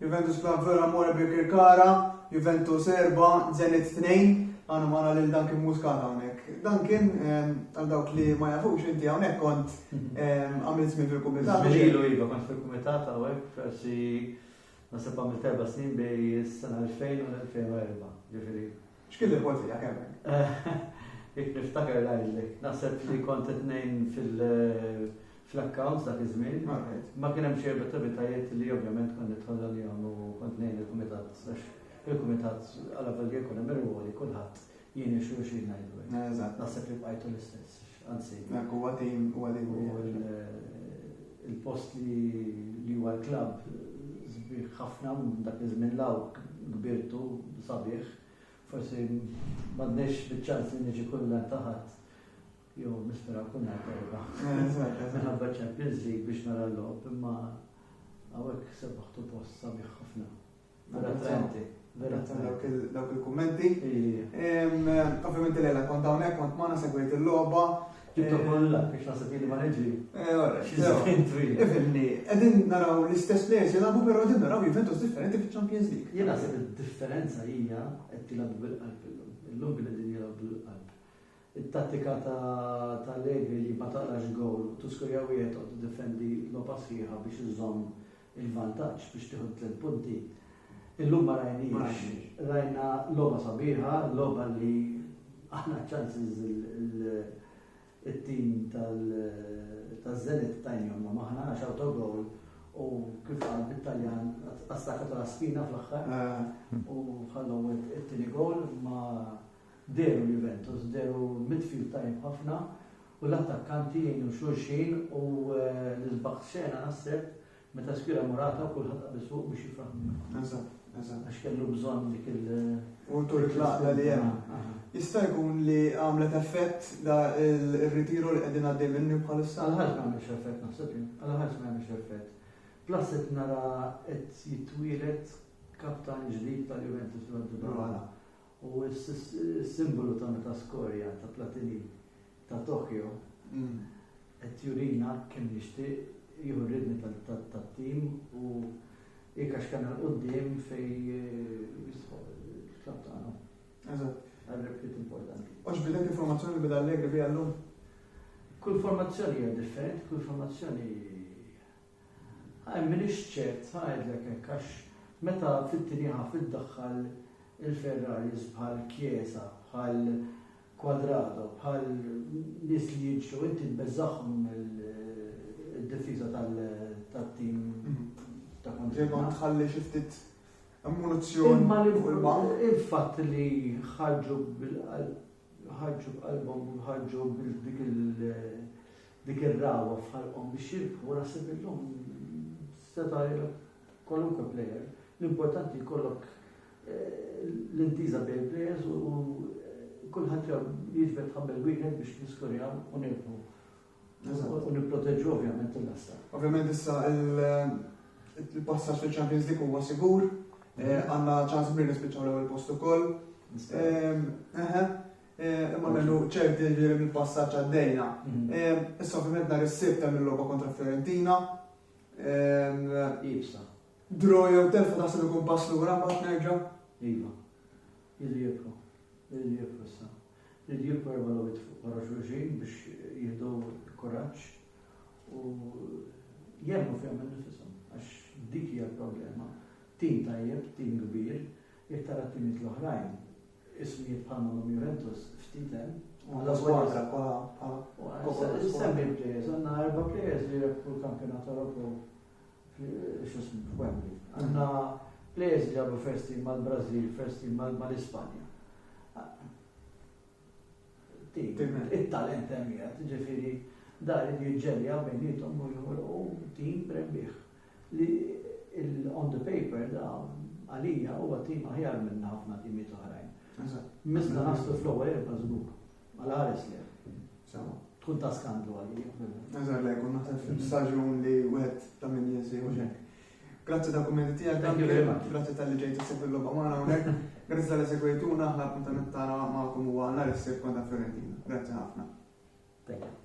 Juventus Club Villa More Birkirkara, Juventus 4, Zenit 2, għana mara lil dan kien muskat hawnhekk. Dan kien ehm, għal dawk li ma jafux inti hawnhekk kont mhm. ehm, għamilt żmien fil-kumitat. Żmielu iva kont fil-kumitat hawnhekk forsi nasib għamil terba' snin bej is-sena 2000 u 2004, ġifieri X'kien li qbolt tiegħek hemmhekk? Jekk niftaker ngħidlek. Naħseb li kont qed ngħin fl-accounts dak iż-żmien. Ma kien hemm xejn b'attivitajiet li ovvjament kont nidħol għalihom u kont ngħin il-kumitat għax il-kumitat għalavolja jkun hemm irwoli kulħadd jgħin lil xulxin ngħidu hekk. Naħseb li bqajtu l-istess. Anzi, dak huwa tim huwa tim il-post li huwa l-klabb sbieħ ħafna dak iż-żmien law kbirtu sabiħ. Forsi m'għandniex biċ-ċans li niġi kullha taħat jew nispera kun qed erba'. Minħabba Champions League biex nara l-logħob imma hawnhekk sebaħtu post sabiħ ħafna. Dawk il-kummenti. Ovvijament li l-għela kont hawnhekk kont ma segwejt il-logħba. Ġibtu kollha biex nasib li ma neġri. Ifimni, qegħdin naraw l-istess players jilagħbu però qegħdin naraw Juventus differenti fiċ-Champions League. Jien naħseb id-differenza hija qed tilgħabu bil-qalb illum. Illum kien qegħdin jilgħabu bil-qalb. It-tattika ta' Allegri li ma taqrax gowl, tuskurja wieħed u tiddefendi l-opassiħa biex iżomm il-vantaġġ biex tieħu t-tliet punti. Illum ma rajniex, rajna logħba sabiħa, logħba li aħna ċansiż it-tim tal-Zenit tajnjom ma maħna għax autogol u kif għal bit-Taljan għastakat la spina fl-axħar eh. u ħallu it-tini gol ma Dehru Juventus, dehru midfield tajjeb ħafna u l-attakkanti jgħinu xulxin u l-isbaħ tas-sena naħseb meta spira Morata kulħadd qabeż fuqu biex jifraħ miegħu. Eżatt, eżatt. Għax kellu bżonn dik il- U tur il-laqla li hemm. Jista' jkun li għamlet effett da il-ritiru li qegħdin għaddej minnu bħalissa? Għal ħadd ma għamilx effett naħseb jien, għal ħadd ma għamilx effett. Plus qed nara qed jitwieled kaptan ġdid tal-Juventus Rotterdam. U s-simbolu ta' metaskorja ta' Platini ta' Tokyo qed jurina kemm jixtieq jieħu r-ridni tat-tim u jikax kemm il quddiem fej jistħoq il-klabb tagħna. Eżatt. Għal-replit importanti. U x'bidlet informazzjoni li beda Allegri bija llum? Kull formazzjoni hija differenti, kull formazzjoni Hi, m'iniex ċert ngħidlek hekk għax meta fit-tinieha fiddaħħal il-Ferraris bħal Chiesa, bħal Cuadrado, bħal nies li jiġru inti tbeżżagħhom id-difiża tat-tim ta' kontrina. Imma tħalli xi ftit ammunizzjoni fuq il-bank. Il-fatt li ħarġu bil-qalb ħarġu b'qalbhom ħarġu bil-dik il- Dik ir-ragħwa f'ħalqhom biex jirbħu naħseb illum seta' jilgħab kwalunkwe plejer. L-importanti jkollok l-intiża bejn il-plejers u kulħadd jiġbed ħabel wieħed biex niskorjaw u nirbħu. U nipproteġu ovvjament il-lasta. Ovvjament issa il-passaġġ fil-Champions League huwa sigur, għandna ċans kbir nispiċċaw l-ewwel post ukoll. Imma minnu ċerti li mill-passaġġ għaddejna. Issa ovvjament nhar is-Sibt hemm il-logħba kontra Fiorentina. Iva. Draw jew telf taħseb ikun pass lura mbagħad nerġa'? Iva. Jidri jibqgħu. Jidri jibqgħu issa. Jidri jibqgħu erba' logħbiet fuq wara xulxin biex jieħdu kuraġġ u jemmu fihom innifishom għax dik hija l-problema. Tim tajjeb, tim kbir, jekk tara t-timiet l-oħrajn ismijiet bħal ma' Num Juventus ftit hemm. U la squadra pa pa Semmi players, għandna erba' players li rebħu l-kampjonat Ewropew x'ismu f'Wembley. Għandna players li ġabu first team mal-Brażil, first team mal-Ispanja. It-talent hemm ġifieri dar jiġġelja bejnietom u jħolqu tim rebbieħ. li l-on the paper da għalija huwa tim aħjar minn ħafna timiet oħrajn. Mista nastu fl-ewwel erba' żgur. Għal ħares li. Tkun ta' skandlu għalija. Eżatt, lejk, u naħseb fil-staġun li wieħed ta' min jinsi u xek. Grazzi ta' kummenti tiegħek, thank you very much. Grazzi tal-li ġejt issib il-logħba magħna hawnhekk. Grazzi tal-li segwejtuna, aħna appuntament tagħna magħkom huwa nhar issib kontra Fiorentina. Grazzi ħafna. Thank you.